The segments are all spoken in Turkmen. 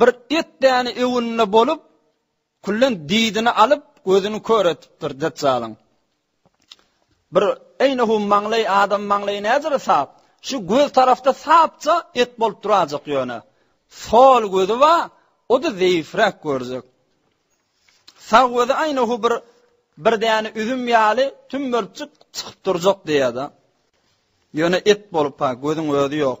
Bir et däne öwünde bolup, küllen didini alyp, gözüni kör etipdir Detjalyň. Bir eýnehum maňlaý adam maňlaýy nädere sap, şu göz tarafda sapja et bolup durajak ýöne. Sol gözi wa, o-da zeýifräk görjek. Sag gözi eýnehu bir bir däne üzüm ýaly tümmerçik çykyp durjak diýýärdi. Ýöne et bolup ha, gözüň özi ýok.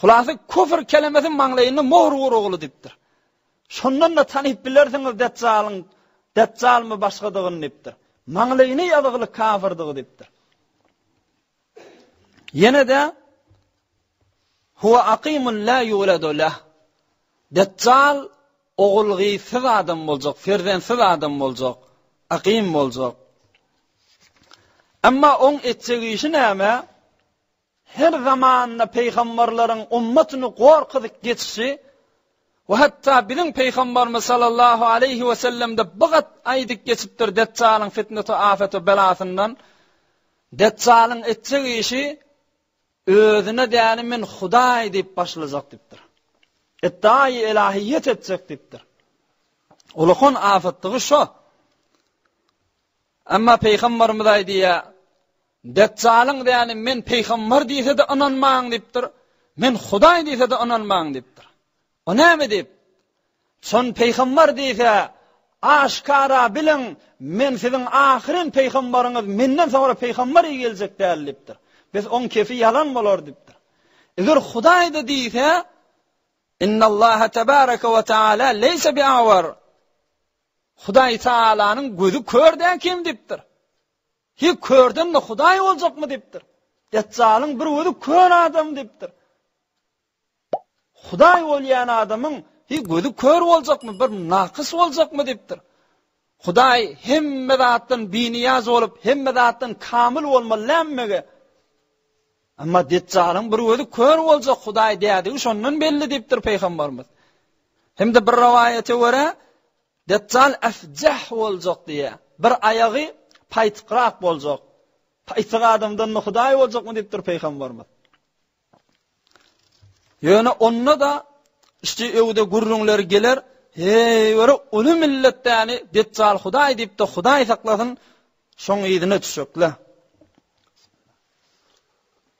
Hulasa küfr kelemesi maňlaýyna mohr ur ogly diýipdir. Şondan-da tanyp bilersiňiz Detjalyň Detjalmy başgadygyny diýipdir. Maňlaýyny ýazygly kafirdygy diýipdir. Ýene-de Huwa aqimun la yuladu lah. Detjal ogulgysyz adam boljak, ferzensiz adam boljak, aqim boljak. Emma oň etjek işi näme? Her zamanda pygamberleriň ümmetini gorkuzyp geçişi we hatda biziň pygamberimiz sallallahu aleýhi we sellemde bu gat aýdyp geçipdir Detjalyň fitneti afeti belasyndan Detjalyň etjek işi özüne däli men hudaý diýip başlajak diýipdir. Etdaýy ilahiýet etjek diýipdir. Ulukon afatdygy şo. Amma pygamberimiz aýdyýa Dejjalyň däli men pygambar diýse-de ynanmaň diýipdir, men Hudaý diýse-de ynanmaň diýipdir. O näme diýip? Şon pygambar diýse, aşkara biliň, men siziň ahyryn pygambaryňyz, menden soňra pygambar i geljek däl diýipdir. Bes oň kefi ýalan bolar diýipdir. Eger Hudaýda diýse, Innallaha tebaraka we taala leýse biawar. Hudaý Taalanyň gözi kör däl kim diýipdir. Hi, körden-de hudaý boljakmy? diýipdir. Detjalyň bir gözi kör adam diýipdir. Hudaý bolýan adamyň hi gözi kör boljakmy, bir nakys boljakmy diýipdir. Hudaý hemme zatdan biniýaz bolup, hemme zatdan kamyl bolmaly nämmege? Amma Detjalyň bir gözi kör boljak Hudaý dädigi şondan belli diýipdir Pygamberimiz. Hem-de bir rowaýata görä, Dejjal efjeh boljak diýýä. Bir aýagy paýtykrak boljak. Paýtyk adamdan da hudaý boljakmy diýipdir Pygamberimiz. Ýöne onda-da işte öwde gürrüňler geler, heý, görä uly milletdäni Dejjal hudaý diýipdi, hudaý saklasyn, şoň yzyna düşekle.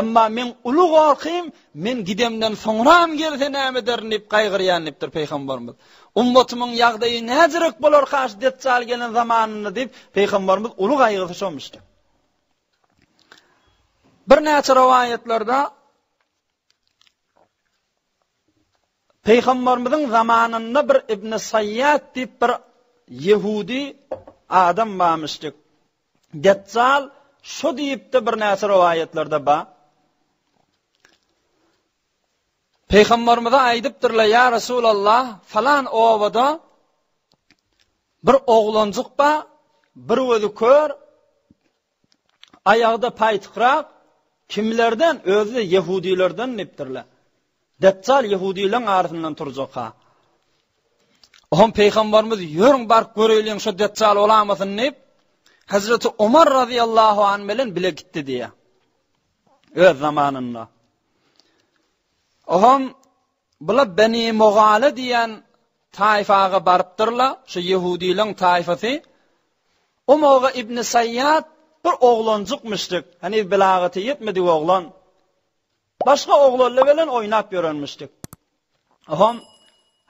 Emma meň uly gorkym, men gidemden soňram gelse näme ederin diýip gaýgyrýan diýipdir Pygamberimiz. Ummatymyň ýagdaýy näderek bolarkaş Detjal gelen zamanynda diýip Pygamberimiz uly gaýgysy şomuşdy. Birnäçe rowaýatlarda Pygamberimiziň zamanynda bir Ibn Sayyat diýip bir Yehudi adam bamyşdyk. Dezzal şu diýipdi birnäçe rowaýatlarda ba. Pygamberimize aýdypdyrlar ýa Resulallah falan obada bir oglanjyk ba bir gözi kör aýagda paýtykrak kimlerden özü de ýehudilerden diýipdirler. Dejjal ýehudylaryň arasyndan turjak-ha. Oňa pygamberimiz ýörüň baryp göreýliň şu Dejjal bolamasyny diýip, Hazreti Omar radiyallahu anh bilen bile gitdi diýýär. Öz zamanynda. Oňa bula Beni Mogale diýen taýfaga barypdyrlar, şu ýehudylaryň taýfasy. O moga İbn Sayyad bir oglanjykmyşdyk. Hani bilagati ýetmedi oglan. Başga oglanlar bilen oýnap ýörenmişdik. Hom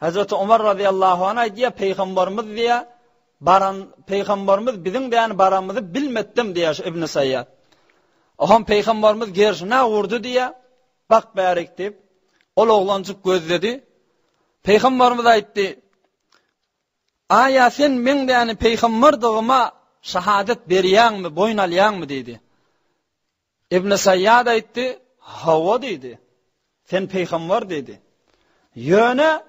Hazreti Omar razyýallahu anh aýdýar, Peýgamberimiz diýär, baran Peýgamberimiz biziň däni baramyzy bilmetdim diýär şu Ibn Saýýat. Hom Peýgamberimiz gerşine urdy diýär, bak bärik diýip, ol oglanjyk gözledi. Peýgamberimiz aýtdy, Aýa sen meň däni peýgamberdigime şahadat berýäňmi, boýun alýaňmy diýdi. Ibn Saýýad aýtdy, Hawa diýdi. Sen pygambar diýdi. Ýöne,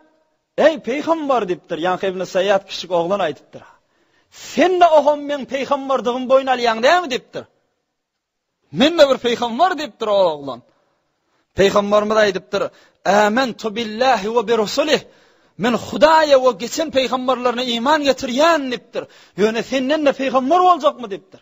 Eý, pygambar diýipdir. Ýaňky Ibn Saýýad kiçijik oglan aýdypdyr. Sen-de ogam meň pygambardygymy boýun alýaň näme diýipdir. Men-de bir pygambar diýipdir o oglan. Pygambarymyz aýdypdyr, Ämen tu billahi we bi rusulih. Men Hudaýa we geçen pygambarlaryna iman getirýän diýipdir. Ýöne senden-de pygambar boljakmy diýipdir.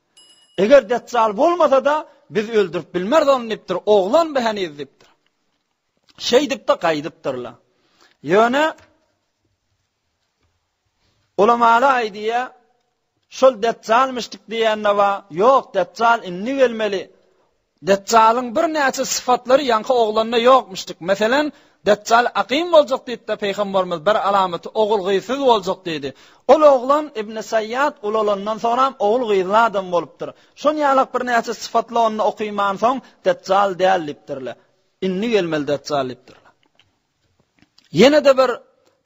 Eger Detjal bolmasa-da, biz öldürip bilmeris ony diýipdir. Oglan bu heniz diýipdir. Şeýdip-de gaýdypdyrlar. Ýöne ulamalar aýdýar, şol Detjalmyşdyk diýende wa, ýok, Detjal indi gelmeli. Detjalyň birnäçe sypatlary ýaňky oglanda ýokmuşdyk. Meselem, Detjal akym boljak diýipdi, Pygambarymyz bir alamaty ogul-gyzsyz boljak diýdi. Ol oglan Ibn Saýýat ulalandan soňam ogul-gyzly adam bolupdyr. Şon ýalak birnäçe sypatly onda okyman soň Detjal däl diýipdirler. Indi gelmeli Detjal diýipdirler. Ýene-de bir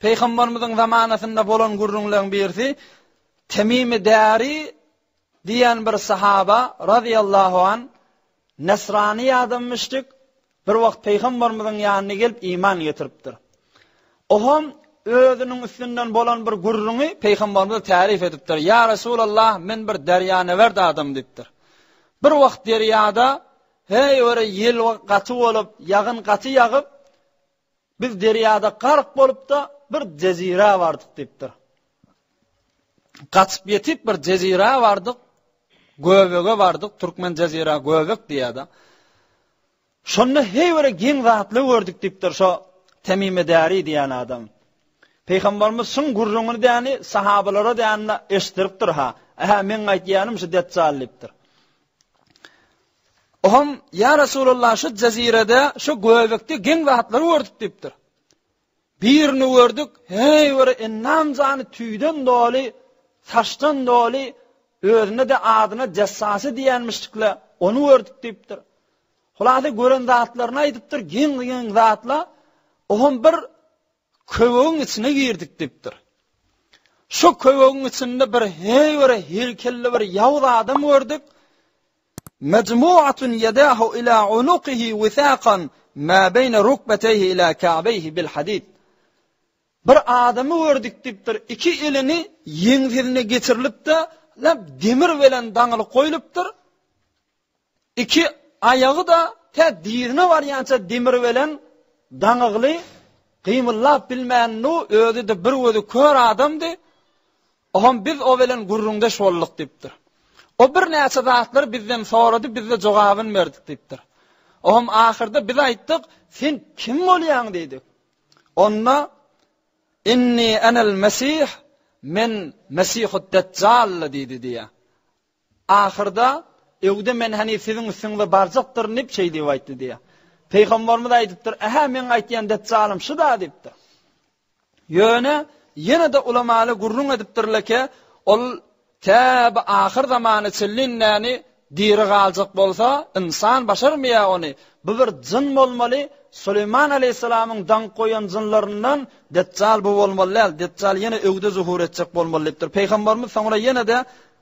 Pygambarymyzyň zamanasynda bolan gürrüňleň birisi Temimi Dari Diýen bir sahaba razyýallahu an, Nesrani ýa-da müşrik bir wagt Pygambarymyzyň ýanyna gelip iman getiripdir. Oom özüniň üstünden bolan bir gürrüňi Pygambarymyza täryf edipdir. Ýa Resulallah, men bir derýanewert adam diýipdir. Bir wagt derýada heý ora ýel gaty bolup, ýagyn gaty ýagyp, Biz derýada gark bolup-da bir jezirä bardyk diýipdir. Gaçyp ýetip bir jezirä bardyk, göbege bardyk, türkmen jezirä göbek diýýär-de. Şonda heý bir giň zatly gördük diýipdir şo Temime Däri diýen adam. Peýgamberimiz şuň gürrüňini däni sahabalara däni eşdiripdir ha. Aha men aýtýanym şu Deccall diýipdir. Oňam, Ýa Resulallah, şu jezirede, şu göbekde geň zatlary gördük diýipdir. Birini gördük, heý bir ennan jany tüýden doly, saçdan doly, özüne de adyna jessasy diýenmişdikle, ony gördük diýipdir. Hulasa gören zatlaryny aýdypdyr, geň-geň zatla, oňam bir Köwegiň içine girdik, diýipdir. Şo köwegiň içinde bir heýwere heýkelli bir ýawuz adam gördük. Mejmuatun ýedahu ila unukihi wisaqan ma beýne rukbateýhi ila ka'beýhi bil hadid. Bir adamy gördük, diýipdir. Iki elini ýeňsesine geçirilip-de, lap demir bilen daňylyp goýlupdyr. Iki aýagy-da tä dizine barýança demir belen daňygly, gymyllap bilmändu, özi-de bir gözi kör adamdy. Oňam biz o belen gürrüňdeş bolduk diýipdir. O birnäçe zatlary bizden sorady, biz-de jogabyny berdik diýipdir. Oňam ahyrda biz aýtdyk, sen kim bolýaň diýdik. Onda Inni enel Mesih, men Mesihut Deccall diýdi diýýär. Ahyrda, Öwde men hany siziň üstüňize barjakdyryn diýip şeý diýip aýtdy diýýär. Pygamberimiz aýdypdyr, Ähä meň aýtýan Detjalym şu-da diýipdir. Ýöne ýene-de ulamaly gürrüň edipdirleke, ol tä bu ahyr zamana çenlin näni diri galjak bolsa, ynsan başarmaýar ony, bu bir jyn bolmaly, Suleýman aleýhissalamyň daňk goýan jynlaryndan Detjal bu bolmaly däl, Detjal ýene Öwde zuhur etjek bolmaly diýipdir. Pygamberimiz soňra ýene-de